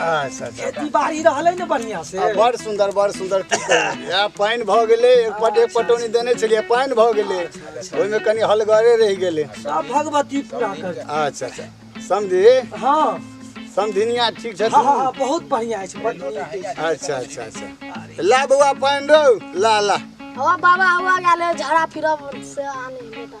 अच्छा अच्छा खेती बाड़ी रहले ने बढ़िया से आ, बड़ सुंदर बड़ सुंदर की कही। या पानि भऽ गेलै एक पट एक पटौनी देने छलियै पानि भऽ गेलै ओहिमे कनि हलगरे रहि गेलै सब भगवती पूरा कर अच्छा अच्छा समझी हाँ समझिनिया ठीक छथिन हाँ हाँ हाँ, बहुत बढ़िया है बड़ नीक है। अच्छा अच्छा अच्छा ला बौआ पानि रौ ला ला हवा बाबा हवा गेले झड़ा फिरब से आने बेटा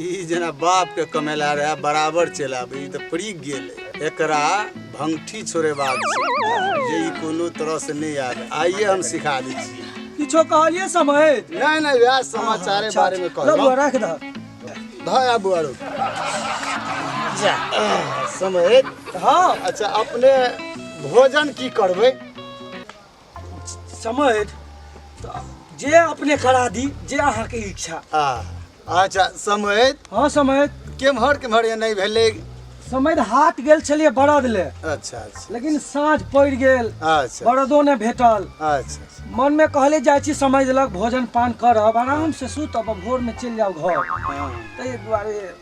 ई जेना बाप के कमेला रहे बराबर चलि आबे ई तऽ पड़ि गेल एकरा भंगठी छोड़ेबाक छै जे ई कोनो तरह से नहि आबे आइए हम सिखा दै छी किछो कहलिए समय नहि नहि वएह समाचारे बारे में कहलहुँ रघुआ राख दह धय आबू आरो जा समय हँ अच्छा अपने भोजन की करबै समझ तऽ जे अपने करा दी जे अहाँके इच्छा आ अच्छा समय हँ समझ केम्हर केम्हर एने भेलै समझ हाथ गेल छलियै बरद ले अच्छा अच्छा लेकिन साँझ पड़ि गेल अच्छा बरदो नहि भेटल अच्छा मनमे कहले जाइ छी समझ लग भोजन पान करब आरामसँ सुतब आ भोरमे चलि जाउ घर हँ। ताहि दुआरे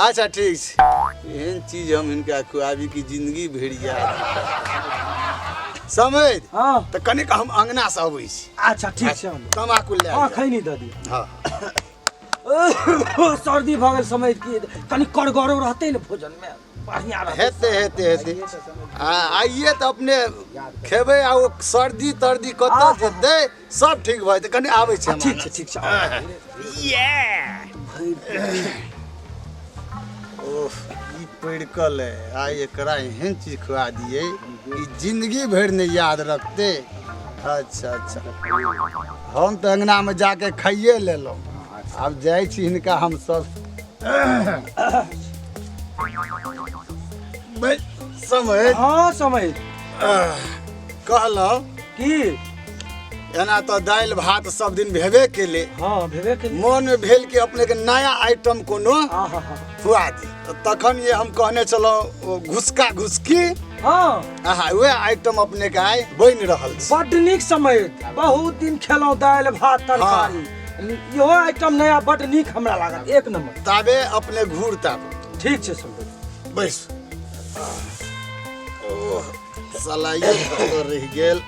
अच्छा ठीक छै एहन चीज हम हिनका खुआबी कि जिंदगी भरि याद समझ हाँ तऽ कनिक हम अंगना से अबै छी अच्छा ठीक छै हम तमाकू लए हाँ आइब। खैनी दऽ दिअ हँ सर्दी भऽ गेल समय की कनि करगरो रहतै ने भोजन मे बढ़िया रहतै हेतै हेतै हेतै आ आइए तऽ अपने खेबै आ ओ सर्दी तर्दी कतऽ जेतै सब ठीक भऽ जेतै कनि आबै छी हम ठीक छै ठीक छै ओह ई पड़कल है आ एकरा एहन चीज खुआ दिए ई जिंदगी भरि ने याद रखते अच्छा अच्छा हम तऽ अंगनामे जाके खाइए लेलहुँ आब जाइ छी हिनका हमसभ बे, समय हाँ समय आह, कहलहुँ की एना तऽ दालि भात सब दिन भेबे केले हाँ भेबे के मोन में भेल कि अपने के नया आइटम कोनो हाँ हाँ हाँ खुआ दी तऽ तखन ये हम कहने छलहुँ घुसका घुसकी हाँ आहा वएह आइटम अपने के आइ बनि रहल छै बड नीक समय बहुत दिन खेलौं दालि भात तरकारी इहो आइटम नया बड नीक हमरा लागल एक नंबर ताबे अपने घूर ताब ठीक छै सुनबै बैस ओह सलाइयो कतऽ रहि गेल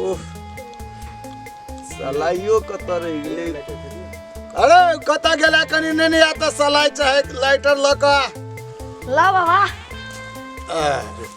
ओह सलाइयो कतऽ रहि गेलै अरे कतऽ गेला कनी नहि ने आता सलाइ चाहे लाइटर लऽ कऽ ला बाबा अरे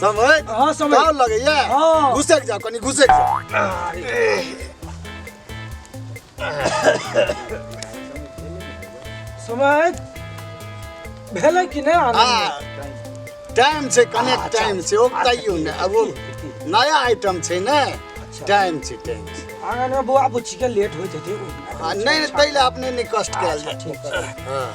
समय हाँ समय का लगैया हाँ। घुसक जा कनी घुसक जा समय भेलै कि नहि आनन्द हाँ टाइम से कनेक्ट टाइम से ओकताइयो ने अब वो नया आइटम छै ने टाइम से टाइम से आँगनमे बौआ बुच्चीके लेट होइत हेतै आ नहीं नहीं पहले आपने नहीं कष्ट कैल अच्छा, ठीक छै। हाँ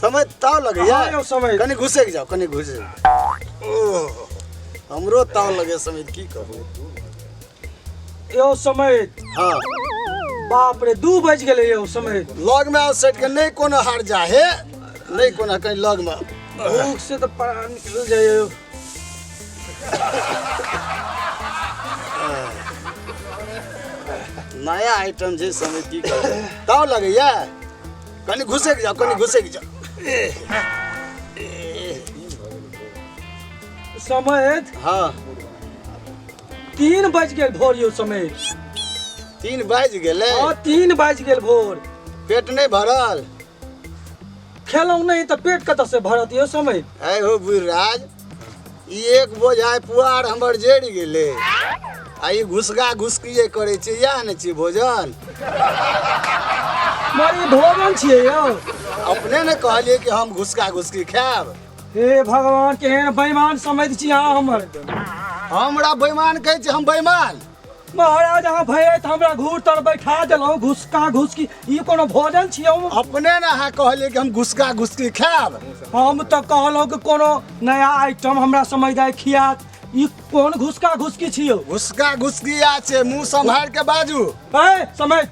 समय ताव लगे हाँ, यार यो समय। कनी घुसे के जाओ कनी घुसे ओह, हमरो ताव लगे समय की कहू यो समय हाँ बाप रे दू बज गेले यो समय लग में आओ सेट के नहीं कोनो हार जा हे नहीं कोनो कहीं लग में भूख से तो परान निकल जाए नया आइटम छै समय की करबै ताव लगैया कनि घुसैक जाउ कनि घुसैक जाउ समय हाँ तीन बज गेल भोर यौ समय तीन बाजि गेलै हाँ तीन बज गेल भोर पेट नहि भरल खेलौं नहीं तो पेट कत से भरत यो समय आय हो बुढ़राज ई एक बोझाय पुआर हमर जरि गेलै आ ई घुसगा घुसकिए करै छै इएह ने छियै भोजन मरी भोजन छिए यो अपने ने कहलियै कि हम घुसका घुसकी खायब हे भगवान केहन बेईमान समझ छी अहाँ हमर हमरा बेईमान कहै छै हम बेईमान महाराज अहाँ भैया तऽ हमरा घूर तर बैठा देलहुँ घुसका घुसकी ई कोनो भोजन छियै हम अपने ने अहाँ कहलियै कि हम घुसका घुसकी खायब हम तऽ कहलहुँ कि कोनो नया आइटम हमरा समझ दे खियात ई कोन घुसका घुसकी छियौ घुसका घुसकी आ छै मुंह संभाल के बाजू ए समझ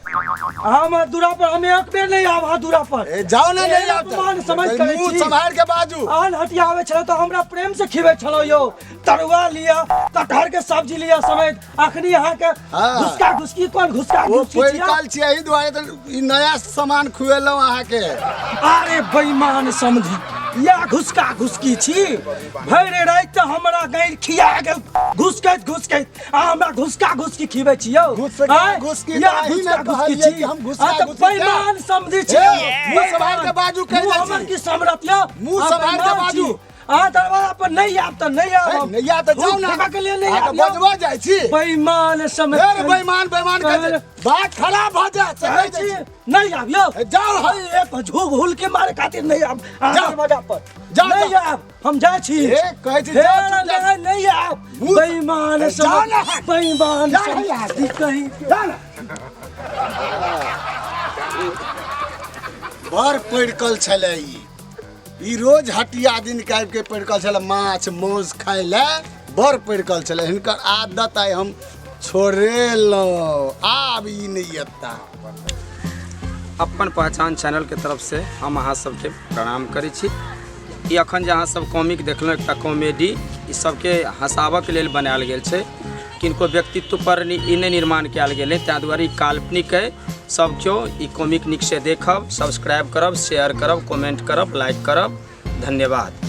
हम दूरा पर हम एक बेर नहीं आब अहाँ दूरा पर ए, जाओ ने एहन नहीं आब अपमान समझ करै मुंह छी। संभाल के बाजू आन हटियावे छलौ तऽ हमरा प्रेम से खिबै छलौ यौ तरुआ लिया कटहर के सब्जी लिया समेत अखनी यहाँ के हाँ। घुसका घुसकी कोन घुसका वो घुसकी कोई छिया? काल छियै एहि दुआरे तऽ ई नया सामान खुएलहुँ अहाँके अरे बेईमान समझी या घुसका घुसकी छी भरि राति तऽ हमरा गैर खिया गेल घुसकैत घुसकैत आ हमरा घुसका घुसकी खिबै छी यौ घुसका आँय? घुसकी या तऽ अहीँ ने घुसका घुसकी कहलियै छी कि हम घुसका आ तऽ घुसकी खा- बेईमान समझी छी हे, मुँह सम्हारि कऽ बाजू, कहि मुँह दै छी। हमर की समरत यौ मुँह आ सम्हारि कऽ बेईमान बाजू। छी। अहाँ दरवाजा पर नहि आब तऽ नहि आब नहि या तऽ जाउ ना के लिए नहि आब बजबो जाइ छी बेईमान समझ फेर बेईमान बेईमान के बात खराब भ जा चलै छी नहीं आब यो जाउ हम एक झूग हुल के मारे खातिर नहीं आब दरवाजा पर जाउ नहीं आब हम जा छी ए कहै छी जाउ नहीं नहीं आब बेईमान समझ बेईमान समझ कहीं जा ना बड़ पड़कल छलै ई ई रोज हटिया दिन के आबि के पड़कल छल माछ मांस खाय ले बड़ पड़कल छल हिनकर आदत आइ हम छोड़ेलहुँ आब ई नहीं अता अपन पहचान चैनल के तरफ से हम अहाँ सबके प्रणाम करै छी ई अखन जे अहाँ सब कॉमिक देखलहुँ एकटा कॉमेडी ई सबके हँसाबऽके लेल बनायल गेल छै किनको व्यक्तित्व पर नि- ई नहि निर्माण कयल गेलै ताहि दुआरे ई काल्पनिक अइ सब केओ ई कॉमिक नीकसँ देखब सब्सक्राइब करब शेयर करब कमेंट करब लाइक करब धन्यवाद